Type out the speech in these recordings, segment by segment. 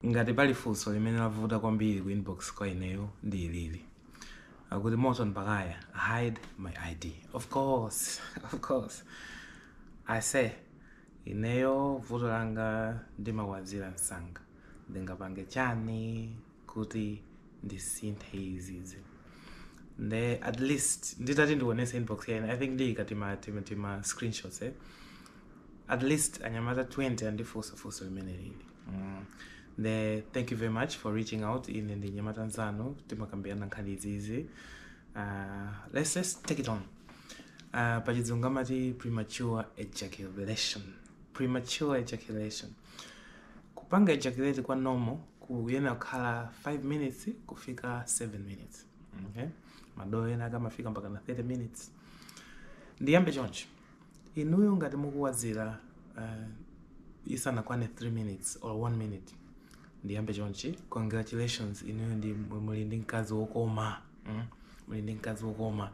Ngati pali funso limene lavuta kwambiri ku inbox kwa ineyo ndi ilili. Akuti Morton Bakaya hide my ID. Of course, of course. Aise, ineyo vuto langa ndimawazira msanga. Ndingapange chani kuti ndisinthe izizi. Nde at least nditati ndionese inbox ya ineyo. I think ndiyika tima, tima, tima screenshots eh. At least anyamata 20 andifunsa funso limeneli ili. Mm. The, thank you very much for reaching out ine ndi mnyamata nzanu, timakambirana nkhani izizi. Uh, let's just take it on. Uh, pachizungu amati premature ejaculation. Premature ejaculation. Kupanga ejaculate kwa normal kuyenera kukhala 5 minutes kufika 7 minutes. Okay? Madolo ena akamafika mpaka na 30 minutes. Ndiyambe chonchi. inuyo ngati mukuwazira uh, isanakwane 3 minutes or 1 minute ndiyambe chonchi congratulations inuyo ndi muli ndi mkazi wokoma mm? muli ndi mkazi wokoma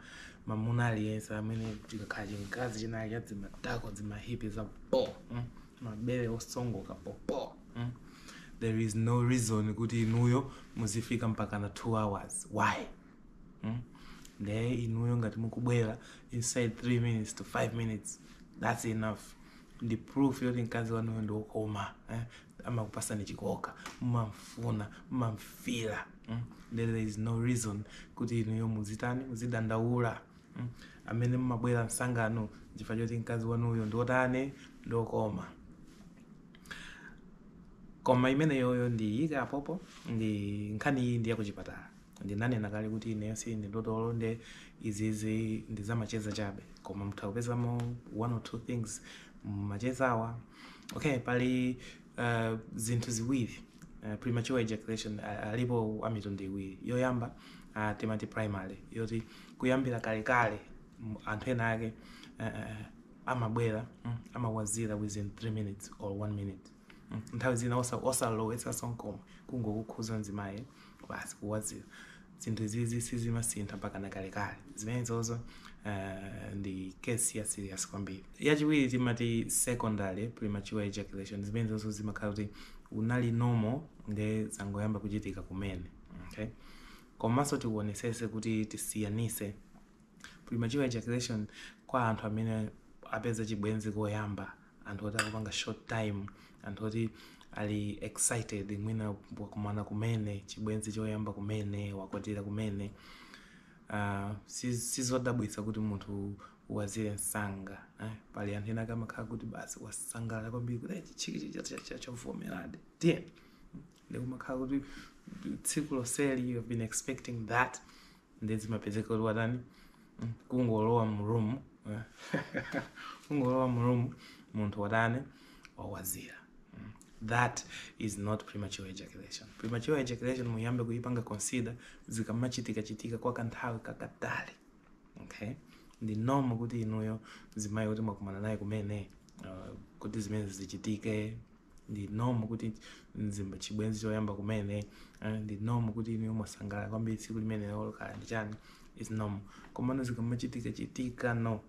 mamuna aliyense amene chikakhala chimkazi china cha dzimatako dzimahipi za po mm? mabere osongoka popo mm? there is no reason kuti inuyo muzifika mpaka na 2 hours why hmm? nde inuyo ngati mukubwera inside 3 minutes to 5 minutes that's enough ndi proof yoti mkazi wanuyo ndi wokoma eh? amakupasani chikoka mmamfuna mmamfira mm? then there is no reason kuti inuyo muzitani muzidandaula mm? amene mmabwera msanganu chifukwa choti mkazi wanuyo ndiotani ndiokoma koma imeneyoyo ndiyika apopo ndi nkhani iyi ndi yakuchipatala Ndinanena kale kuti ineyo sindine dotolo nde izizi ndizamacheza chabe koma mutha kupezamo one or two things mumachezawa okay pali uh, zinthu ziwiri uh, premature ejaculation uh, alipo amitundu iwiri yoyamba uh, timati primary yoti kuyambira kalekale m- anthu ena ake uh, amabwera mm, amawazira within 3 minutes or 1 minute Mm, nthawi zina osa- osalowetsa nkomwe kungokukhuza mzimayi basi kuwazira zinthu izizi sizimasintha mpaka na kalekale zimenezozo eh, ndi case ya serious kwambiri yachiwiri timati secondary premature ejaculation zimenezozo zimakhala kuti unali normal nde zangoyamba kuchitika kumene okay? komanso tionesese kuti tisiyanise premature ejaculation kwa anthu amene apeza chibwenzi koyamba anthu oti akupanga short time anthu oti ali excited mwina wakumana kumene chibwenzi choyamba kumene wakwatira kumene uh, sizodabwitsa kuti munthu awazire msanga eh? pali anthu enaake amakhala kuti basi wasangalala kwambiri kuti chichiki chavomeradi eti iye ndikumakhala kuti tsiku lonseli you have been expecting that ndiye zimapezeka kuti watani mm, kungolowa mrumu eh. kungolowa mrumu munthu watani wawazira mm. that is not premature ejaculation premature ejaculation muyambe kuyipanga consider zikamachitika chitika kwa kanthawi kakatali okay ndi normal kuti inuyo mzimayi woti mwakumana naye kumene uh, kuti zimene zichitike ndi normal kuti mzibambo chibwenzi choyamba kumene eh, ndi normal kuti inuyo mwasangalala kwambiri tsiku limenelo kaya ndi chani it's normal komano zikamachitika chitika no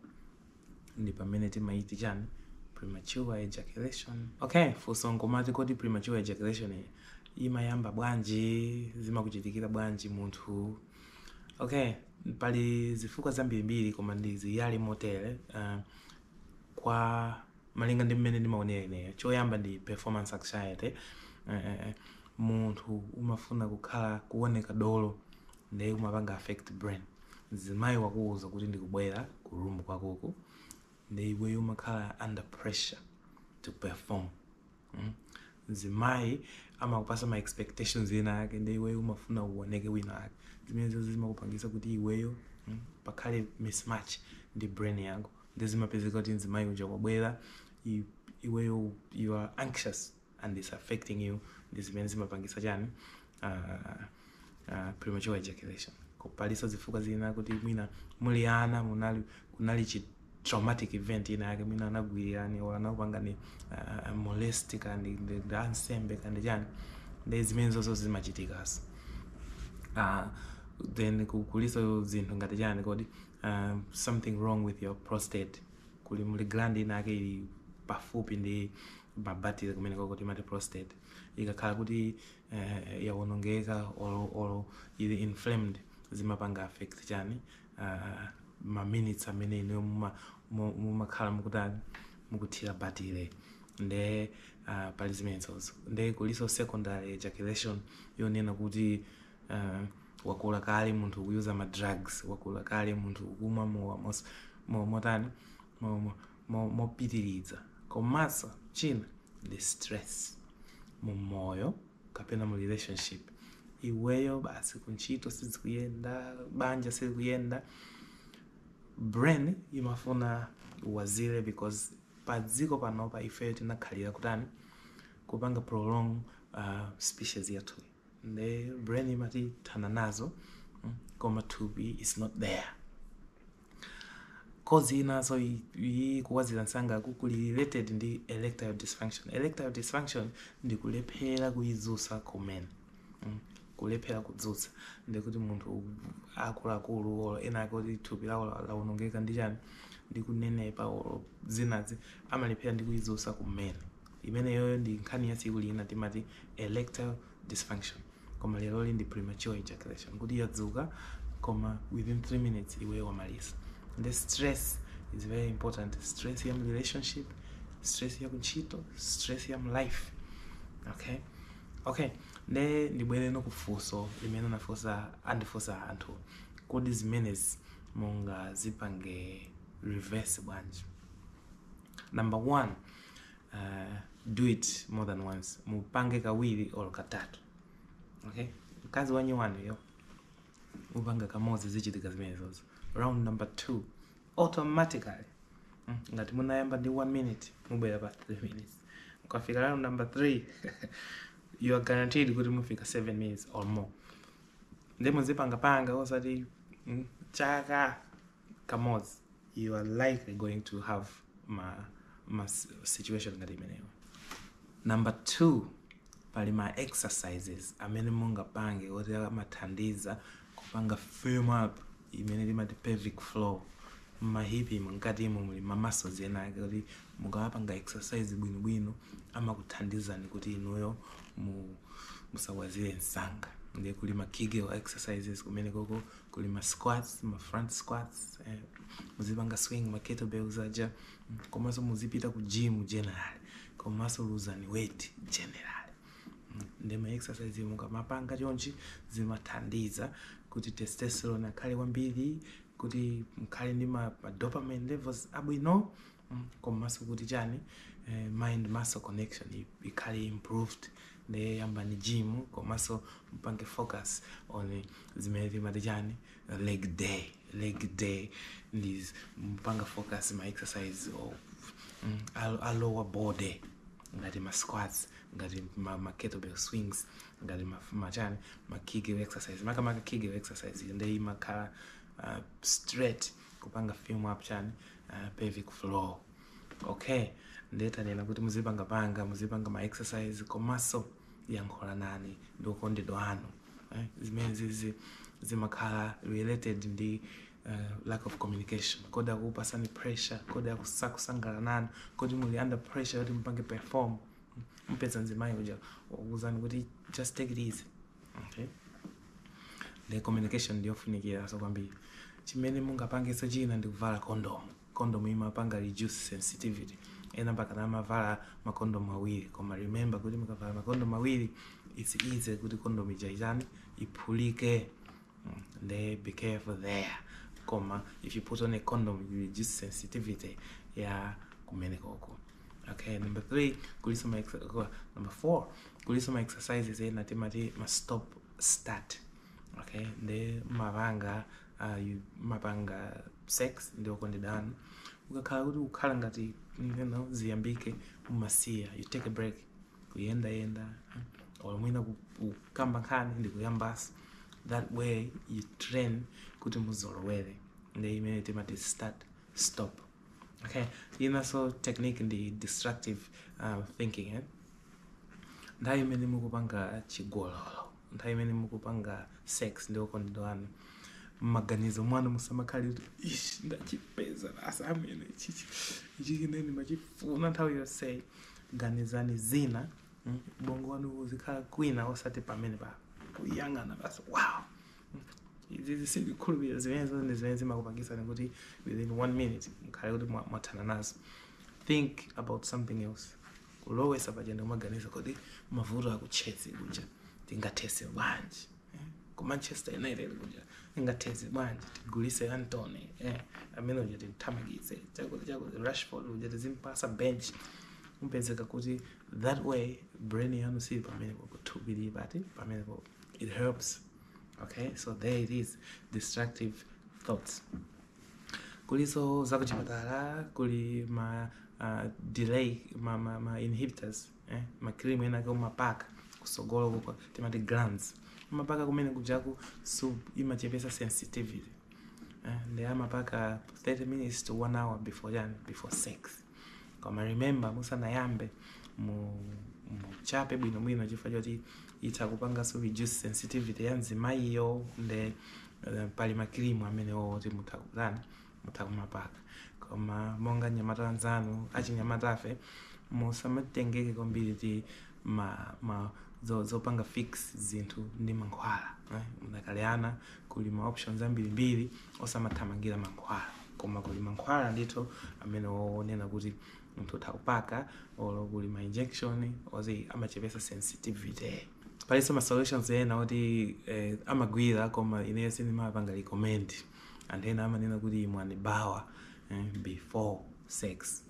ndi pamene timati chani premature ejaculation okay funso nkomati kodi premature ejaculation iyi imayamba bwanji zimakuchitikira bwanji munthu okay pali zifukwa zambirimbiri koma ndiziyala motere uh, kwa malinga ndi mmene ndimaonera ineyo choyamba ndi performance anxiety eh, eh, eh. munthu umafuna kukhala kuoneka dolo ndiye kumapanga affect brain mzimayi wakuwuza kuti ndikubwera ku room kwakoko ndiye iweyo umakhala under pressure to perform mm? mzimayi amakupasa ma expectations ena ake ndiye iweyo umafuna uoneke wina ake zimenezo zimakupangisa kuti iweyo mm? pakhale mismatch ndi brain yako Nde zimapezeka kuti mzimayi uja wabwela iweyo you are anxious and its affecting you ndi zimene zimapangisa chani premature ejaculation. Palinso zifukwa zina kuti mwina muli ana munali kunali chi traumatic event ina yake mwina anakugwililani or anakupangani molest kaya ndi ndi ansembe kaya ndi chani nde zimenezonso zimachitikanso. Then kulinso zinthu ngati chani kodi uh, something wrong with your prostate kuli muli gland inake ili pafupi ndi mabatire kumeneko kuti timati prostate ikakhala kuti uh, yawonongeka olo olo ili inflamed zimapanga affect chani uh, ma minutes amene inuyo muma- mu- mumakhala mukutani mukuthira batire nde uh, pali zimenezozo nde kulinso secondary ejaculation yonena kuti uh, wakula kale munthu ukuyuza ma drugs wakula kale munthu ukumwa mowa mos- mo- motani mo- mo- mo- mopitiriza komanso china ndi stress mu moyo kapena mu relationship iweyo basi kuntchito sizikuyenda banja sizikuyenda brain imafuna ukwazire because pa dziko panopa ife tinakhalira kutani kupanga prolong uh, species yathuyi nde brain imati thana nazo mm, koma thupi is not there cause inanso kukwazira msanga kuli related ndi erectile dysfunction erectile dysfunction ndi kulephera kuyidzutsa kumene mm, kulephera kudzutsa ndikuti munthu akuluakulu olo ena ake kuti thupi lawo lawonongeka ndi chani ndi kunenepa olo zinazi amalephera ndi kuyidzutsa kumene imeneyoyo ndi nkhani ya tsiku lina timati erectile dysfunction koma leroli ndi premature ejaculation kuti yadzuka koma within 3 minutes iweyo wamaliza nde stress is very important stress ya mu relationship stress ya kuntchito stress ya mu life okay okay nde ndibwereno ku funso limene anafunsa andifunsa anthu kodi zimenezi mungazipange reverse bwanji number one uh, do it more than once mupange kawiri or katatu okay mkazi wanyu wanuyo mupanga kamodzi zichitika zimenezozo round number two automatically mm, ngati munayamba ndi one minute mubwera pa three minutes mukafika round number three you are guaranteed kuti mufika seven minutes or more ndipo muzipangapanga osati mm, chaka kamodzi you are likely going to have ma, ma situation ngati imeneyo number two pali ma exercises amene mungapange oti amathandiza kupanga firm up imene timati pelvic floor mmahipi mkatimo muli ma muscles ena ake kuti mukawapanga exercise bwinobwino amakuthandizani kuti inuyo mu- musakwazire msanga ndiye kuli ma kegel exercises kumene koko kuli ma squats ma front squats eh, muzipanga swing ma kettlebells aja mm, komanso muzipita ku gym generally komanso luzani weight generally Mm, ndi ma exercise yomwe mukamapanga chonchi zimathandiza kuti testosterone akhale kwambiri kuti mukhale ndi ma, ma dopamine levels abwino mm, komanso kuti chani eh, mind muscle connection ikhale improved nde yambani gym komanso mpange focus on zimene timati chani leg day leg day nde mpange focus ma exercise a, a lower body ngati ma squats ngati ma, ma kettlebell swings ngati ma, ma chani ma kegel exercise makamaka kegel exercise nde imakhala uh, straight kupanga firm up chani uh, pelvic floor okay ndiye tanena kuti muzipanga panga muzipanga ma exercise komanso yankhulanani ndi okondedwa anu eh, zimenezizi zimakhala related ndi uh, lack of communication kodi akupasani pressure kodi sakusangalala nanu kodi muli under pressure kuti mupange perform mpeza mzimayi uja akuuzani kuti just take it easy Okay. Nde communication ndiyofunikiranso kwambiri chimene mungapangenso china ndi kuvala condom condom imapanga reduce sensitivity ena mpakana amavala makondomu awiri koma remember kuti mukavala makondomu awiri it's easy kuti condom ija itani iphulike Nde be careful there. Koma if you put on a condom, you reduce sensitivity. Yeah, kumenekoko. Okay, number three, kulinso ma ex- uh, number four, kulinso ma exercises eh, ena timati ma stop start. Okay, nde mmapanga, uh, mmapanga sex ndi okondedwa anu. Ukakhala kuti kukhala ngati you know, ziyambike umasiya, you take a break. Kuyenda yenda, or mwina ku- kukamba nkhani ndi kuyambanso. that way you train kuti muzolowere nde imene timati start stop okay inanso technique ndi distractive um, thinking eh? nthawi imene mukupanga chigololo nthawi imene mukupanga sex ndi okondedwa anu mmaganizo mwanu musamakhale kuti ish ndachipeza nacho chimene ichichi ichichi nde ndimachifuna nthawi yonseyi ganizani zina mm, bongo wanu uzikhala kwina osati pamenepa kuyang'ana basi wow mm, izizi sindikhulupirira zimenezo ndi zimene zimakupangitsani kuti within one minute mkhale kuti mwa- mwathana nazo think about something else kulowesa pachenda kumaganiza kuti mavuto aku Chelsea kuja tingathese bwanji eh? ku manchester united kuja tingathese bwanji tigulise antony eh? amene uja timthamangitse chakuti chakuti rashford uja tizimpasa bench upezeka kuti that way brain yanu siili pamenepo thupi lili apa pamenepo it helps okay so there it is destructive thoughts kuliso zakuchipatala kuli ma uh, delay ma, ma, inhibitors eh? makrimu enake umapaka kusogolo kuko timati glans umapaka kumene kujaku so imachepesa sensitivity eh? ndi amapaka 30 minutes to 1 hour before yani before sex koma remember musanayambe mu muchape bwinobwino chifukwa choti itha kupanganso reduce sensitivity ya mzimayiyo nde uh, pali makirimu amenewo oti mutha kutani mutha kumapaka koma monga anyamata anzanu achinyamatafe musamatengeke kwambiri ti ma, ma zo- zopanga fix zinthu ndi mankhwala eh? mudakali ana Kuli ma options ambirimbiri osamathamangira mankhwala koma kuli mankhwala ndithu amene oonena kuti munthu utha kupaka olo kuli ma injection oti amachepesa sensitivity palinso ma solutions ena oti eh, amagwira koma ineyo sindimapanga recommend anthu ena amanena kuti imwani bawa eh, before sex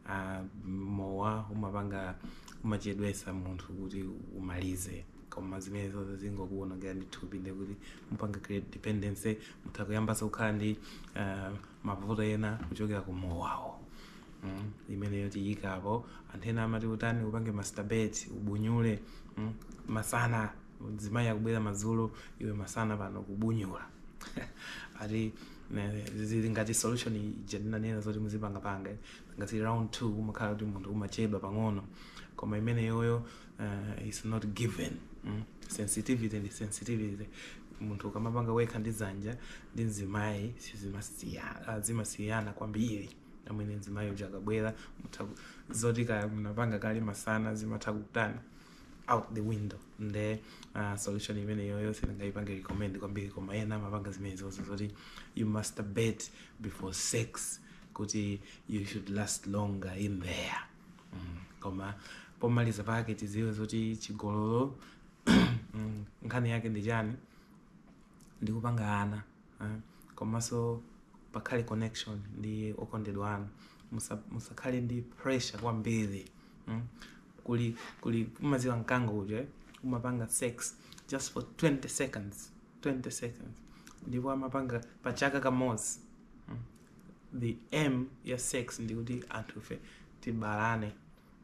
a mowa umapanga umachedwesa munthu kuti umalize koma zimenezo zingokuwonongera ndi thupi nde kuti mupanga create dependency mutha kuyambanso kukhala ndi uh, mavuto ena kuchokera ku mowawo mm. imeneyo sitiyikapo anthu ena amati utani upange masturbate ubunyule mm. masana mzimayi akubwera madzulo iwe masana pano kubunyula ati Ne- zili ngati solution ija ndinanenera zoti muzipangapanga ngati round two umakhala kuti munthu umachedwa pang'ono koma imeneyoyo uh, is not given mm? sensitivity ndi sensitivity munthu ukamapanga wekha ndi dzanja ndi mzimayi sizimasiya- ah, zimasiyana kwambiri amene mzimayi uja akabwera mutha ku- zoti kaya mnapanga kale masana zimatha kutani out the window nde uh, solution imeneyoyonso sindingaipange recommend kwambiri koma ena amapanga zimenezozo zoti you masturbate before sex kuti you should last longer in there mm. koma pomaliza pake tiziwe zoti chigololo mm, nkhani yake ndi chani ndikupanga ana eh, komanso pakhale connection ndi okondedwa anu Musa- musakhale ndi pressure kwambiri mm? kodi mukudziwa mkango uja umapanga sex just for 20 seconds 20 seconds ndipo amapanga pa chaka kamodzi mm? the aim ya sex ndikuti anthufe tibalane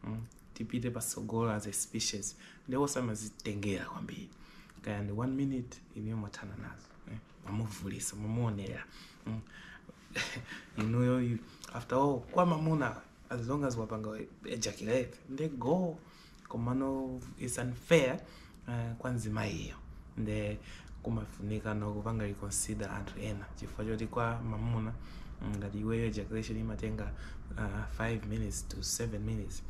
mm, tipite patsogolo as a species ndi osamazitengera kwambiri kaya ndi one minute inuyo mwathana nazo eh, mwamuvulisa mwamuonera mm. inuyo you- after all kwa mamuna as long as wapanga ejaculate nde go komano it's unfair Eh, kwa mzimayiyo nde kumafunikano kupanga reconsider anthu ena chifukwa choti kwa mamuna mm, ngati iweyo ejaculation imatenga uh, 5 minutes to 7 minutes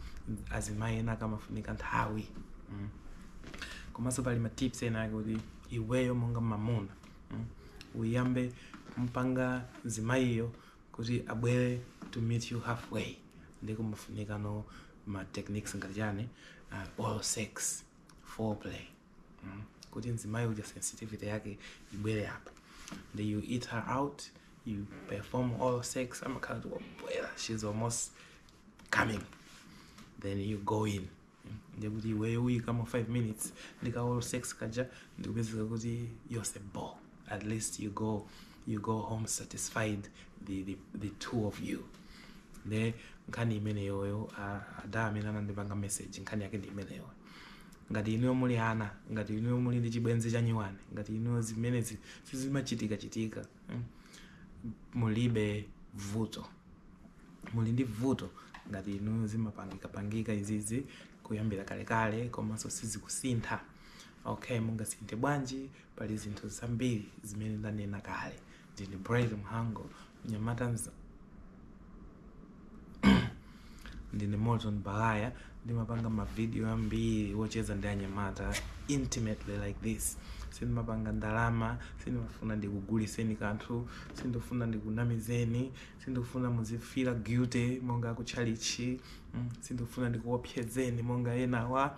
azimayi ena kumafunika nthawi mm. komanso pali matips ena ake kuti iweyo monga mamuna mm, uyambe mpanga mzimayiyo kuti abwere to meet you halfway nde kumafunikano ma techniques ngati chani uh, oral sex foreplay mm. kuti mzimayi uja sensitivity yake ibwere apa then you eat her out you perform oral sex amakhala kuti wabwera she's almost coming then you go in ndekuti iweyo uyikamo 5 minutes ndika oral sex kaja ndikupezeka kuti nose bo at least you go you go home satisfied the, the, the two of you nde nkhani imeneyoyo a- ada amene anandipanga message nkhani yake ndi imeneyo ngati inuyo muli ana ngati inuyo muli ndi chibwenzi chanyuwani ngati inuyo zimenezi sizimachitika chitika mm, mulibe vuto muli ndi vuto ngati inuyo zimapangika pangika izizi kuyambira kalekale komanso sizikusintha okay mungasinthe bwanji Pali zinthu zambiri zimene ndanena kale. Ndine Bright Mhango, mnyamata mzanu ndine Morton Baghaya, ndimapanga mavidiyo ambiri wocheza ndi anyamata intimately like this. Sindimapanga ndalama, sindimafuna ndikuguliseni kanthu, sindikufuna ndikunamizeni, sindikufuna muzifila guilty monga akutchalichi, mm, sindikufuna ndikuopsezeni monga enawa.